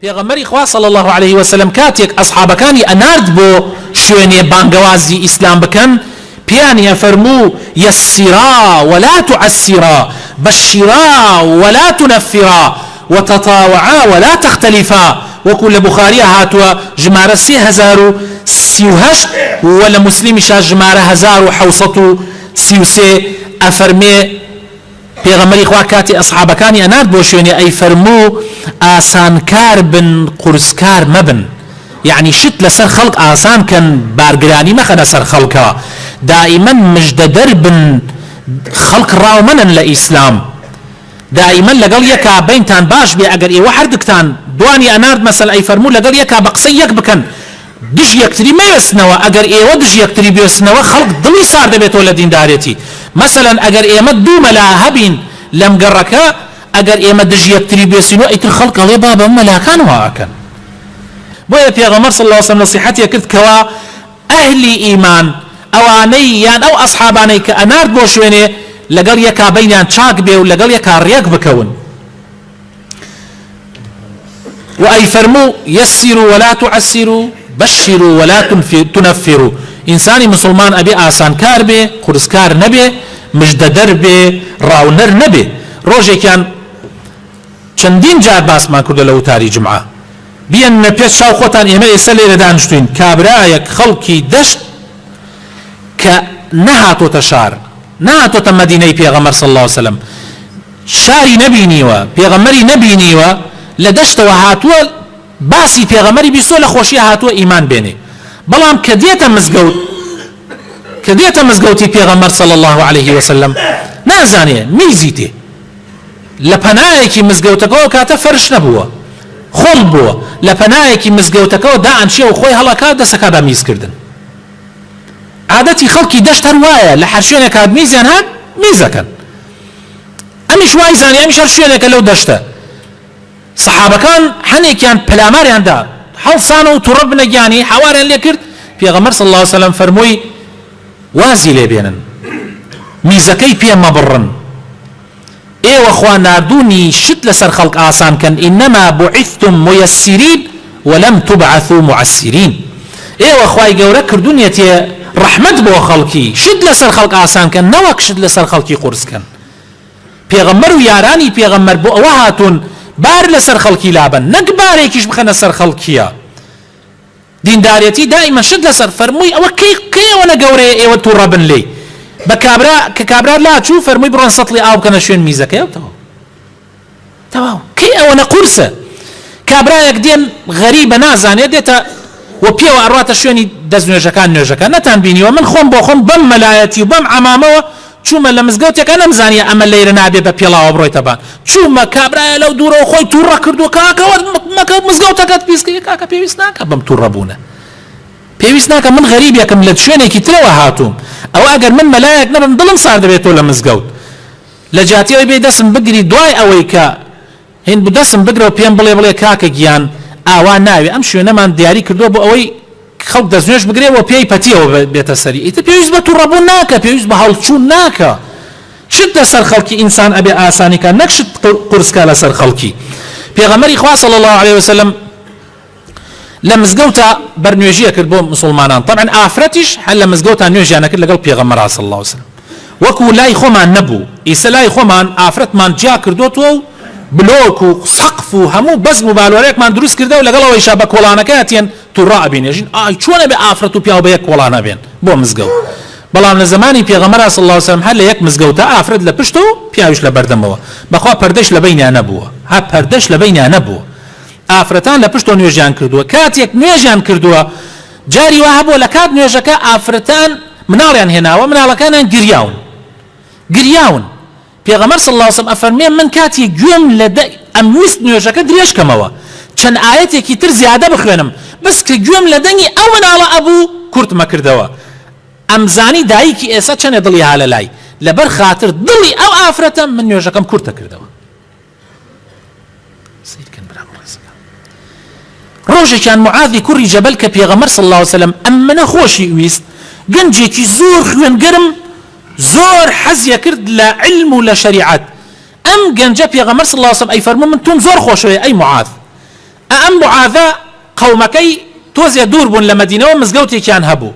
پێغەمبەری خوا صلی اللە علیە وسلم کاتێک ئەسحابەکانی ئەنارد بۆ شوێنێ بانگەوازی ئیسلام بکەن پێیانی ئەفەرموو یسرا ولا تعسرا بشرا ولا تنفرا وتطاوعا ولا تختلفا وەکو لە بوخاریە هاتووە ژمارە سێ هەزار و سی و هەشت و لە موسلیمیشا ژمارە هەزار و حەوت سەد و سی و سێ ئەفەرمێ پێغەمبەری خوا کاتێ ئەسحابەکانی ئەنارد بۆ شوێنێ ئەیفەرموو ئاسان کار بن قورس کار مەبن یەعنی شت لەسەر خەڵک ئاسان کەن بارگرانی مەخەنە سەر خەڵکەوە دائیمەن مژدەدەر بن خەڵک ڕاو مەنەن لە ئیسلام دائیمەن لەگەڵ یەکا بەینتان باش بێ ئەگەر ئێوە هەردکتان دوانی ئەنارد مەسەل ئەیفەرموو لەگەڵ یەکا بە قسەی یەک بکەن دژ یەکتری مەوێستنەوە، ئەگەر ئێوە دژ یەکتری بوێستنەوە خەڵک دڵی سار دەبێتەوە لە دیندارێتی، مەسەلەن ئەگەر ئێمە دوو مەلا هەبین لەم گەڕەکە ئەگەر ئێمە دژ یەکتری بوێستینەوە ئیتر خەڵک ئەڵێ بابە مەلاکان وا ئەکەن بۆیە پێغەمبەر صلی اللە علیە وسلم نەسیحەتێ کرد کەوا ئەهلی ئیمان ئەوانەی یان ئەو ئەسحابانەی کە ئەنارد بۆ شوێنێ لەگەڵ یەکا بەینیان چاک بێ و لەگەڵ یەکا ڕێک بکەون. وە ئەیفەرموو، یەسیرو وەلا توعەسیرو، بەشیرو وەلا تونەفیرو، ئینسانی موسڵمان ئەبێ ئاسانکار بێ، قورسکار نەبێ، مژدەدەر بێ، ڕاونەر نەبێ. ڕۆژێکیان چەندین جار باسمان کردووە لە وتاری جومعە، بیەننە پێش چاو خۆتان ئێمە ئێستا لێرە دانیشتووین، کابرایەک خەڵکی دەشت کە نەهاتۆتە شار، نەهاتۆتە مەدینەی پێغەمبەر صلی اللە علیە وسلم، شاری نەبینیوە پێغەمبەری نەبینیوە لە دەشتەوە هاتووە باسی پێغەمبەری بیستووە لە خۆشیە هاتووە ئیمان بێنێ بەڵام کە دێتە مزگەوت کە دێتە مزگەوتی پێغەمبەر صلی اللە علیه وسلم نازانێ میزی تێ لە پەنایەکی مزگەوتەکەەوە کاتە فەرش نەبووە خۆڵ بووە لە پەنایەکی مزگەوتەکەەوە دا ئەنچێ و خۆی هەڵەکات دەسەکەدا میزکردن عادەتی خەڵکی دەشت هەر وایە لە هەر شوێنێک هات میزیان هات میزەکەن ئەمیش وای زانی ئەمیش هەر شوێنێکە لەو دەشتە سەحابەکان هەنێکیان پەلاماریاندا هەڵسان و توڕە بنە گیانی حەواریان لێ کرد پێغەمبەر صلی الله علیه وسلم فەرمووی وازی لێ بێنن میزەکەی پێ مەبڕن ئێوە خوا ناردوونی شت لەسەر خەڵک ئاسان کەن انما بعثتم ميسرین ولم تبعثوا معسرین ئێوە خوای گەورە کردونیەتیە ڕەحمەت بۆ خەڵکی شت لەسەر خەڵک ئاسان کەن نەوەک شت لەسەر خەڵکی قورس کەن پێغەمبەر و یارانی پێغەمبەر بۆ ئەوە هاتون بار لەسەر خەڵکی لابەن نەک بارێکیش بخەنە سەر خەڵکیە دیندارێتی دائیمە شت لەسەر فەرمووی ئەوە کەی کەی ئەوەنە گەورەیە ئێوە توڕەبن لێی بە کابرا کە کابرا لاچوو فەرمووی بڕۆن سەتڵی ئاو بکەنە شوێن میزەکەیەوە تەواو کەی ئەوەنە قورسە کابرایەک دێن غەریبە نازانێ دێتە و پێوە ئەڕاتە شوێنی دەست نوێژەکان نوێژەکە نەتان بینیوە من خۆم بۆ خۆم بەم مەلایەتی و بەم عەمامەوە چوومە لە مزگەوتێکا نەمزانیە ئەمە لەیرە نابێ بە پێڵاوە بڕۆیتە بان چوومە کابرایە لەو دوورەوە خۆی تووڕە کردو کاکە وەرد مەکە مزگەوتەکەت پیسکەی کاکە پێویست ناکە بەم تووڕە بوونە پێویست ناکە من غەریبێکم لە شوێنێکی ترەوە هاتووم ئەوە ئەگەر من مەلایەک نەبم دڵم ساردەبێت تۆ لە مزگەوت لە جیاتی ئەوەی بێی دەسم بگری دوای ئەوەی کە هین بوو دەسم بگرە و پێم بڵێ بڵێ کاکە گیان ئاوا ناوێ ئەم شوێنەمان دیاری کردووە بۆ ئەوەی خەڵک دەستنوێژ بگرێ و پێی پەتیەوە بێتە سەری ئیتر پێویست بە توڕەبوون ناکە پێویست بە هەڵچوون ناکە شت لەسەر خەڵکی ئینسان ئەبێ ئاسانی کا نەک شت قورس کا لەسەر خەڵکی پێغەمبەری خوا صلی اللە علیە وسلم لە مزگەوتا بەر نوێژی ئەکرد بۆ مسوڵمانان تەبعەن ئافرەتیش هەر لە مزگەوتا نوێژیان ئەکرد لەگەڵ پێغەمبەرا صلی اللە علیە وسلم وەکو لای خۆمان نەبوو ئیسە لای خۆمان ئافرەتمان جیا کردۆتەوە و بلۆک و سەقف و هەموو بەزم و بالۆرێکمان دروست کردەوە لەگەڵ ئەوەیشا بە کۆڵانەکە ئەتیەن توڕا ئەبینێژین ئای چۆن ئەبێ ئافرەت و پیاو بە یەک کۆڵان ئەبێن بۆ مزگەوت بەڵام لە زمانی پێغەمبەرا صلی اللە علیە وسلم هەر لە یەک مزگەوتا ئافرەت لە پشت و پیاویش لە بەردەمەوە بەخوا پەردەش لە بەینیان نەبووە ها پەردەش لە بەینیان نەبووە ئافرەتان لە پشتەوە نوێژیان کردووە کاتێک نوێژیان کردووە جاری وا هەبووە لە کات نوێژەکە ئافرەتان مناڵیان هێناوە مناڵەکانیان گریاون گریاون پێغەمبەر صلی اللە علیه و سلم ئەفەرمێ من کاتی گوێم لە دە ئەمویست نوێژەکە درێژ کەمەوە چەند ئایەتێکی تر زیادە بخوێنم بەس کە گوێم لە دەنگی ئەو مناڵە ئەبوو کورتمە کردەوە ئەمزانی دایکی ئێستا چەنێ دڵی هالەلای لەبەر خاتر دڵی ئەو ئافرەتە من نوێژەکەم کورتە کردەوە ڕۆژێکیان معاذی کوڕی جەبەل کە پێغەمبەر صلی الله علیه و سلم ئەمنە خۆشی ویست گەنجێکی زۆر خوێنگەرم زۆر حەزیە کرد لە علم و لە شریعەت ئەم گەنجە پێغەمبەر صلی الله علیه و سلم ئەی فەرموو من تۆم زۆر خۆشەوێ ئەی معاذ ئە ئەم معاذە قەومەکەی تۆزێ دوور بوون لە مەدینەوە مزگەوتێکیان هەبوو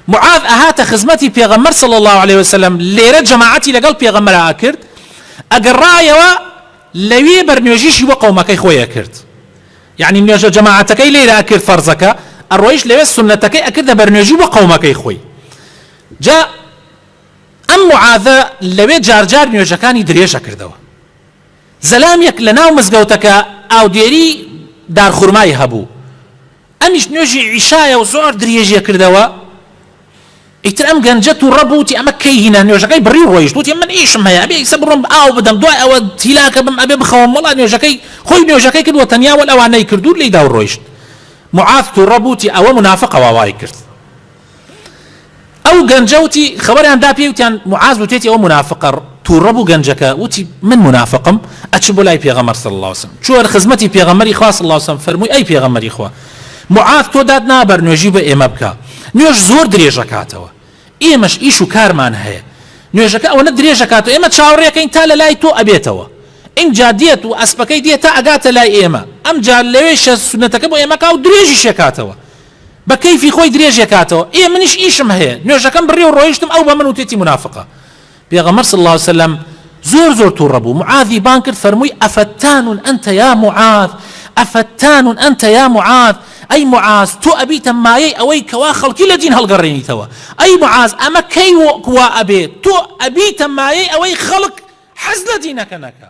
معاذ ئەهاتە خزمەتی پێغەمبەر صلی اللە علیە وسلم لێرە جەماعەتی لەگەڵ پێغەمبەرا ئەکرد ئەگەڕایەوە لەوێ بەر نوێژیشی بۆ قەومەکەی خۆی ئەکرد یەعنی نوێژە جەماعەتەکەی لێرە ئەکرد فەرزەکە ئەڕۆیشت لەوێ سوننەتەکەی ئەکردە بەر نوێژی بۆ قەومەکەی خۆی جا ئەم معاذە لەوێ جارجار نوێژەکانی درێژ ئەکردەوە زەلامیەک لە ناو مزگەوتەکە ئاودێری دارخورمای هەبوو ئەمیش نوێژی عیشایە و زۆر دریێژیە کردەوە ئیتر ئەم گەنجە توڕە بوو وتی ئەمە کەی هینا نوێژەکەی بڕی و ڕۆیشت وتی من ئیشم هەیە ئەبێ ئیسە بڕۆم ئاو بدەم دوای ئەوە تیلاکە بم ئەبێ بخەوم وەڵا نوێژەکەی خۆی نوێژەکەی کرد وە تەنیا وەل ئەوانەی کرد و لێیدا و ڕۆیشت معاذ توڕە بوو وتی ئەوە منافقە وا وای کرد ئەو گەنجە وتی خەوەریان دا پێی وتیان معاز وتێتی ئەو منافقە تووڕە بوو گەنجەکە وتی من منافقم ئەچم بۆ لای پێغەمەر صلی الله وسلم چوەر خزمەتی پێغەمەری خوا صلی الله وسلم فەرمووی ئەی پێغەمەری خوا معاز تۆ داد نابەر نوێژی بە ئێمە بکە نوێژ زۆر درێژەکاتەوە ئێمەش ئیش و کارمان هەیە نوێژەکە ئەوەنە درێژەکات و ئێمە چاوڕێکەین تا لە لای تۆ ئەبێتەوە ئینجا دێت و ئەسپەکەی دێت تا ئەگاتە لای ئێمە ئەمجا لەوێ شە سونەتەکە بۆ ئێمەکە و درێژی شەکاتەوە بە کەیفی خۆی درێژێ کاتەوە ئێ منیش ئیشم هەیە نوێژەکەم بڕی و ڕۆیشتم ئەو بە من وتێتی منافقە پێغەمبەر صلی اللە علیە وسلم زۆر زۆر توڕە بوو معاذی بان کرد فەرمووی ئەفەتان ئەنتە یا معاذ ئەفەتان ئەنتە یا معاذ ئەی معاذ تۆ ئەبیتە مایەی ئەوەی کەوا خەڵکی لە دین هەڵگەڕێنیتەوە ئەی معاذ ئەمە کەی وەکوا ئەبێ تۆ ئەبیتە مایەی ئەوەی خەڵک حەز لە دینەکە نەکە